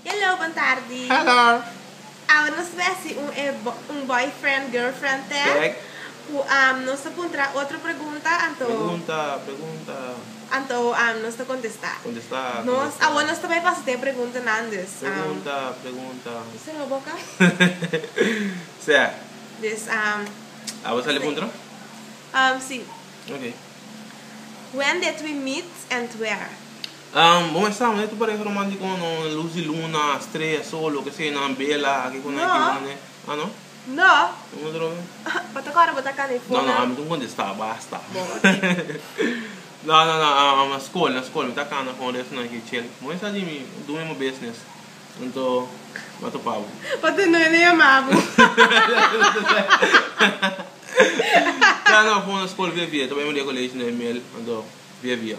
Hello, bon tardi. Hello. Awor nos ta hasi un e un boyfriend girlfriend test. Correct. Cu am nos ta puntra otro pregunta anto. Pregunta, pregunta. Anto am nos ta contesta. Contesta, contesta. Nos awor nos ta bay pasa ta e preguntanan dus. Pregunta, pregunta. Cu sero boca? Sea. Dus am. Awor sali puntra? Am si. Okay. When did we meet and where? Bo mester amo neto pareha romantico o no, luz di luna, strea, sol, loke sea, nan bela, aki cu nan aki cu nan. Ah no? No. Bo no droga? Bo ta cora bo ta cana e fona? No no, ami ta un contesta, basta. Bo oki. No no no, ah na scol, na scol mi ta cana con resto nan aki chel. Bo mester dimi do mi bo business, anto mi a topa bo. Pa tende nan e yama bo. No no, fona scol via via, ta bay media college na e mel, anto via via.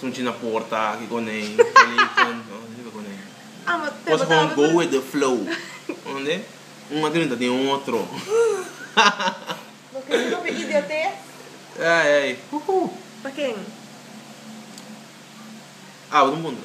Sunchi na porta aki con e teléfono no sirbi con e cos con go with the flow ende un a grinta den otro loke riba pe idiotez ay ay huhu pa ken? Abra un punto.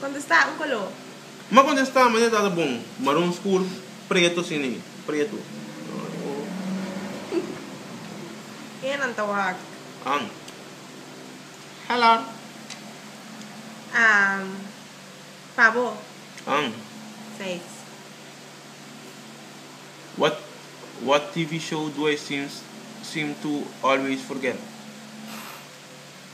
Contesta un color. M'a contesta manera ta ta bon, maron scur, preto sin ni preto. Kende nan ta wak? An. Hela. Am. Pa bo. An. Seis. What what TV show do I seems seem to always forget?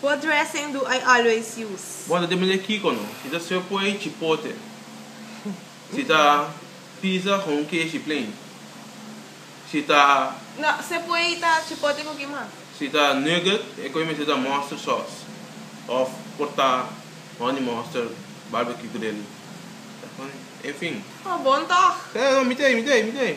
What dressing do I always use? Bo ta depende kiko no. Si ta swe poi chipote. Si ta pizza con un keshi plain. Si ta. No, swe poi ta chipote cu ki mas? Si ta nugget e coi mester ta mustard sauce of por ta honey mustard barbecue grill. Enfin. Oh, bon toch? Sey, no, mi tey, mi tey, mi tey.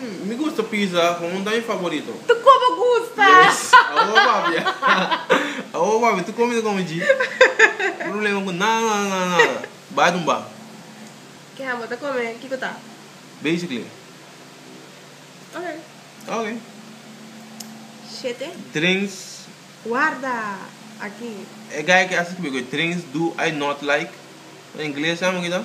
Mmm, mi gusta pizza con un daño favorito. Tu con bo gusta! Yes! Awo papia! Awo papia, tu come ta come dji. Problema cu nada, nada, nada, nada. Bai tumba. Ke ham bo ta come, kico ta? Basically. Ok. Ok. Shete. Drinks. Warda! Aki. E guy ke a scribi cu e drinks do I not like? Na ingles, sa amo ki ta?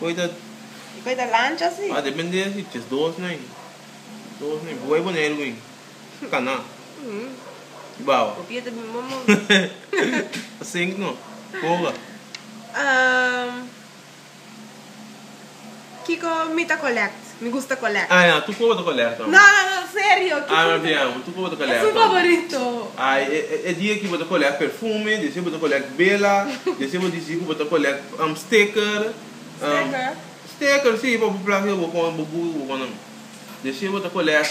Koe ta. E koe ta lancha si. A depende si tes dos no hay. Dos no hay. Bo hay Boneiru gin. Cana. Di baba. Bo pia ta bin bo mor. Ta sink no. Koga. Kiko mi ta collect? Mi gusta collect. Ah ya, tu koba ta collect hombre. No no no, serio. Ah ma bien hombre, tu koba ta collect hombre. Es mi favorito. Ay, e dia aki bo ta collect perfume, di asina bo ta collect bela, di asina bo dici cu bo ta collect sticker. Sticker? Sticker si, pa bo plak cu bo con bo guru, cu bo con nan. Di asina bo ta collect.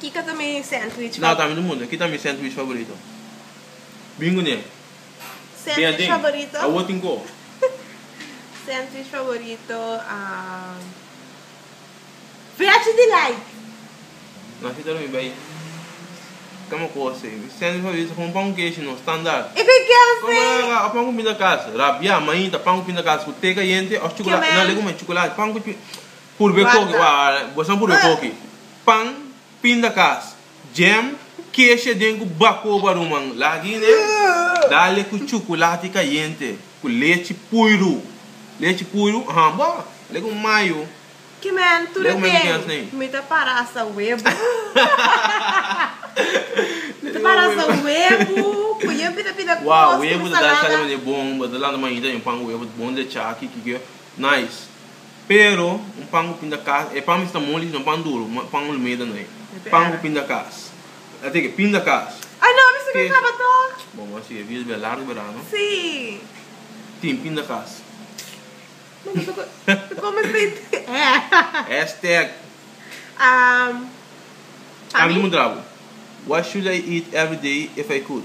Kiko ta mi sandwich favorito? No, ta mi no munda. Ki ta mi sandwich favorito? Bin ku ne. Sandwich favorito? Awor tin ko. Sandwich favorito, am, Veggie Delight! No, si ta lo mi bai kama ku ose. Mi sandwich favorito ta komo pan ku keshi, no, standaard. E ku kèn Komo la la, a pan ku pinta kas, rabiá, mainta, pan ku pinta kas ku te kayente òf chukulati. Kemènt. No, le ku mai chukulati, pan ku. Purbe koki, wa, boso nan purbe koki, pan, pindakas, jam, kesha den ku bakoba ruman, lagi ne, dale ku chukulati kayente, ku lechi puiru, lechi puiru, aha, bo, le ku mayo, Ki men tur a ten? Mi ta para hasta webu. Mi ta para hasta webu, ku yen pida pida kos, ku mi salada. Wow, webu ta dal sali mane bon, bo ta lanta mañita den pan ku webu, bon lechá, kiki. Nice. Pero un pan cu pinda cas, e pan mi sta moli sino pan duro, pan olmeda no e. Pan cu pinda cas. Ta teke, pinda cas. Ay no, mi sigue caba toch. Bo mos sigue, bias bia largo bera no. Sí. Tin pinda cas. No mi ta come steak tin. Hashtag. Um, a mi. Cambio mudrabo. What should I eat every day if I could?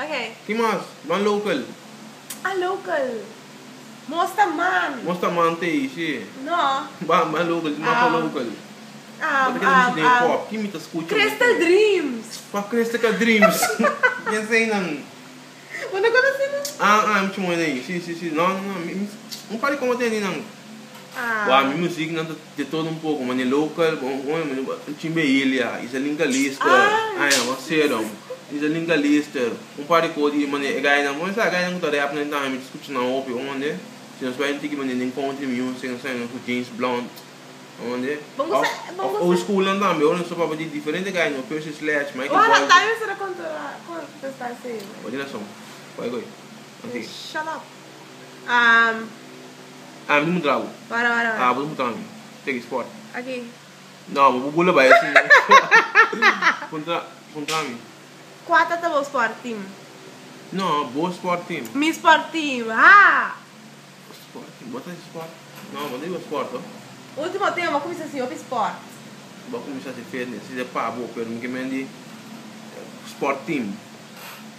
Okay. Ki mas? Ban local? Ah local. Mos ta man. Mos ta man te ei si. No. Ban ban local si mos ta local. Bo ta keda misti den e kop. Kin mi ta skucha hopi. Crystal dreams. Kwa cristica dreams. Ken sa einan? Bo no konosé nan? Ah ah mi chuma hopi den ei. Si si si. No no no. Un par di komo tene einan. Bo a mi muzik nan ta. De todo un poco, mane local, bo un oe mane bo un chin behilia, y sa linka lister, aña bo serum, y sa linka lister, un par de cos di mane e gainan, bo mester a gainan cu ta rap nen tambe mi ta scucha nan hopi, bo mane, si nos bai tiki mane den country music, nos ta yama cu James Blunt, bo mane, of of old school nan tambe, ora nos ta papia di diferente gainan, Percy Sledge, Michael Bolton. Bo tin razon, bay goi, continua. Am. Am di mutra abu. Wara wara wara. Abu di mutra mi. Teki sport. Aki. No, bo bubula bai asin. Puntra, puntra mi. Kua tata bo sport team? No, bo sport team. Mi sport team. Ha! Sport team. Bo ta di sport? No, bo no di bo sport to. Ultimo tempo bo kuminsa si hopi sport. Bo kuminsa si fitness. Si ta pa bo, pero mi ke men di sport team.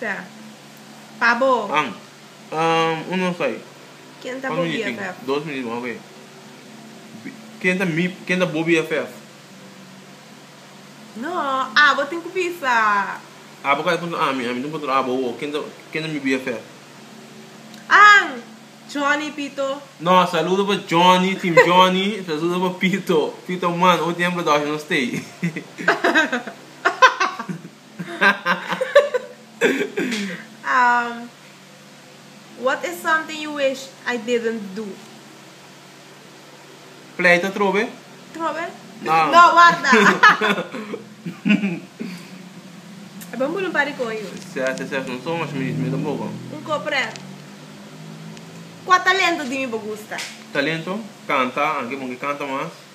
Fe. Pa bo. An. Um, un nos ai. Ken ta bo BFF? Dos minit mas, oke. Bi, ken ta mi, ken ta bo BFF? No, abo tin ku bisa. Abo ka ta puntra ami, ami tin ku puntra abo, wo, ken ta, ken ta mi BFF? An. Johnny, Pito. No, saludo pa Johnny, Team Johnny, saludo pa Pito, Pito man, un tiempo dòshia nos stay. What is something you wish I didn't do? Pleita trobe? Trobe? No. No, warda. E bon bulu un par di kon yu. Sea se session son mas mi mi tampoco. Un ko pret. Kua talento di mi bo gusta? Talento? Canta, anke bon ke canta mas.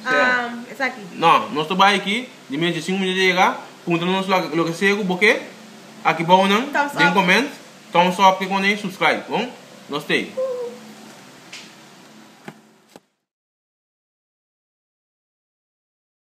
Um, esaki. No, nos ta bai aki, di mes di cinco minutos ta yega, punta nos lo, lo que sea cu bo ke, aki bao nan, thumbs den comment, thumbs up ke con subscribe, bon? Nos tei.